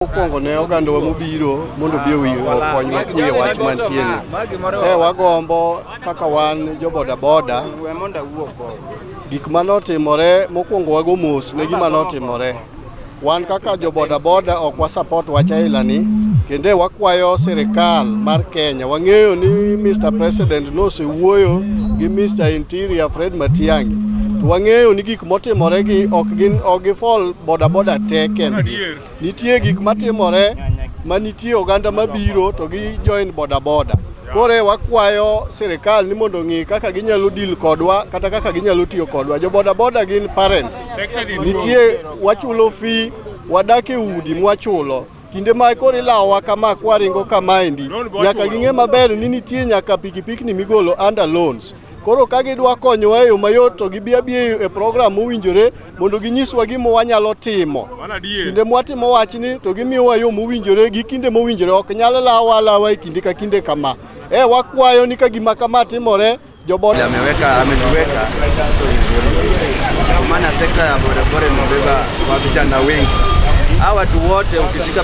Mokwongo ne ogandawa mobiro mondo obi owi okonywa kuye wach mantie ni. E wagombo kaka wan jo bodaboda gik mane otimore mokwongo wago mos ne gima notimore. Wan kaka jo bodaboda ok wasapot wach ailani kendo e wakwayo sirikal mar Kenya. Wang'eyo ni Mr. President nosewuoyo gi Mr. Interior Fred Matiang'i to wang'eyo ni gik motimoregi ok gin ok gifol bodaboda te kendgi. Nitie gik matimore ma nitie oganda mabiro to gi join boda boda. Kore wakwayo sirikal ni mondo ng'i kaka ginyalo deal kodwa kata kaka ginyalo tiyo kodwa. Jo boda boda gin parents. Nitie wachulo fee, wadak e udi mwachulo. kinde ma koro ilawowa kama kwaringo kamaendi nyaka ging'e maber ni nitie nyaka pikipikni migolo under loans Koro ka gidwa konyowa e yo mayot to gibi abiya e program mowinjore mondo ginyiswa gima wanyalo timo. Kinde mwatimo wachni to gimiyowa yo mowinjore gi kinde mowinjore ok nyal lawa lawa e kinde ka kinde kama. E wakwayo ni ka gima kama timore jobod ameweka ametuweka so vizuri kwa maana sekta ya bodaboda imebeba wa vijana wengi. Hawa watu wote ukishika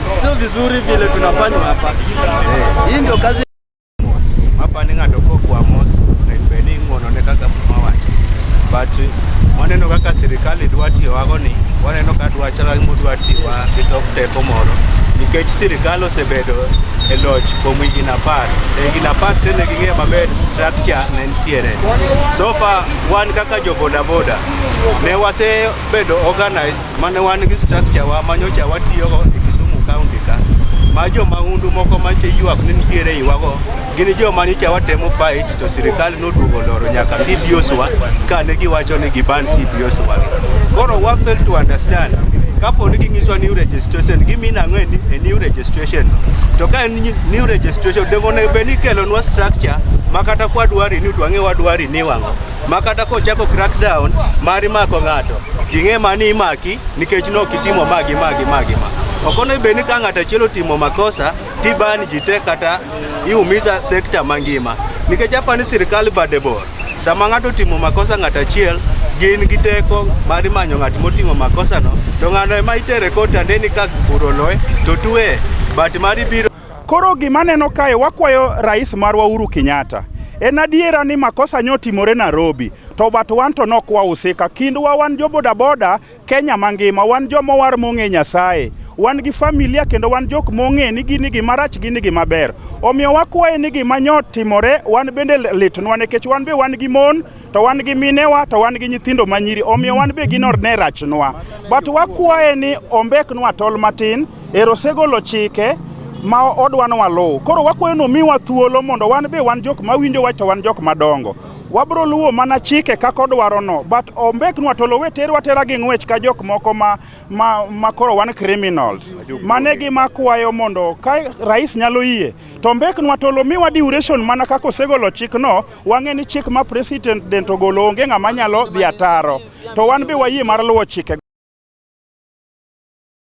Sio vizuri vile tunafanywa hapa. Eh, hii ndio kazi hapa ni ng'ato kokwa mos naibeni ng'ononekaga muma wacho but waneno kaka sirikal idwa tiyowago ni waneno ka dwa chala mudwa tiwa gi tok teko moro nikech sirikal osebedo e loch kuom higni apar e higni apar te ne ging'eyo maber structure ne nitiere so far wan kaka jo bodaboda ne wasebedo organized mane wan gi structure wa ma nyocha watiyogo e Kisumu County ka ma jo mahundu moko manche ywak ni nitiere iwago gin jo ma nyocha watemo fight to sirikal noduogo loro nyaka CBOs wa kane giwacho ni giban CBOs wa koro wa fail to understand kapo ni ging'iswa new registration gimin ang'o e ni- e new registration no to ka en nyi- new registration dongo onego bed ni ikelonwa structure ma kata kwadwari ni to ang'e wadwari ni wang'o ma kata kochako crackdown mar mako ng'ato ting'e ma ni imaki nikech ne ok itimo ma gi ma gi ma gi ma ok onego bed ni ka ng'ato achiel otimo makosa tiban ji te kata iumisa sekta mangima nikech apa ni sirikal bade bor sama ng'ato otimo makosa ng'ato achiel gin gi teko mar manyo ng'at motimo makosano to ng'ano ema itere kotande ni ka buro loye to tueye but mar ibiro Koro gima neno kae wakwayo rais marwa Uhuru Kenyatta en adiera ni makosa nyo timore Nairobi to but wan to nok wahusika kindwa wan jo bodaboda Kenya mangima wan joma war mong'e Nyasaye wan gi familia kendo wan jok mong'e ni gini gima rach gini gima ber omiyo wakwaye ni gima nyo timore wan bende litnwa nikech wan be wan gi mon to wan gi minewa to wan gi nyithindo ma nyiri omiyo wan be ginor ne rachnwa but wakwaye ni ombeknwa tol matin ero osegolo chike ma odwa ni waluw koro wakwayo ni omiwa thuolo mondo wan be wan jok ma winjo wach to wan jok madongo wabro luwo mana chike kaka odwarono but ombeknwa to lowe terwa tera gi ng'wech ka jok moko ma, ma, ma koro wan criminals mane gi makwayo mondo ka rais nyalo yie to ombeknwa to lomiwa duration mana kaka osegolo chikno Wang'e ni chik ma president ogolo onge ng'ama nyalo dhi ataro, to wan be wayie mar luwo chike.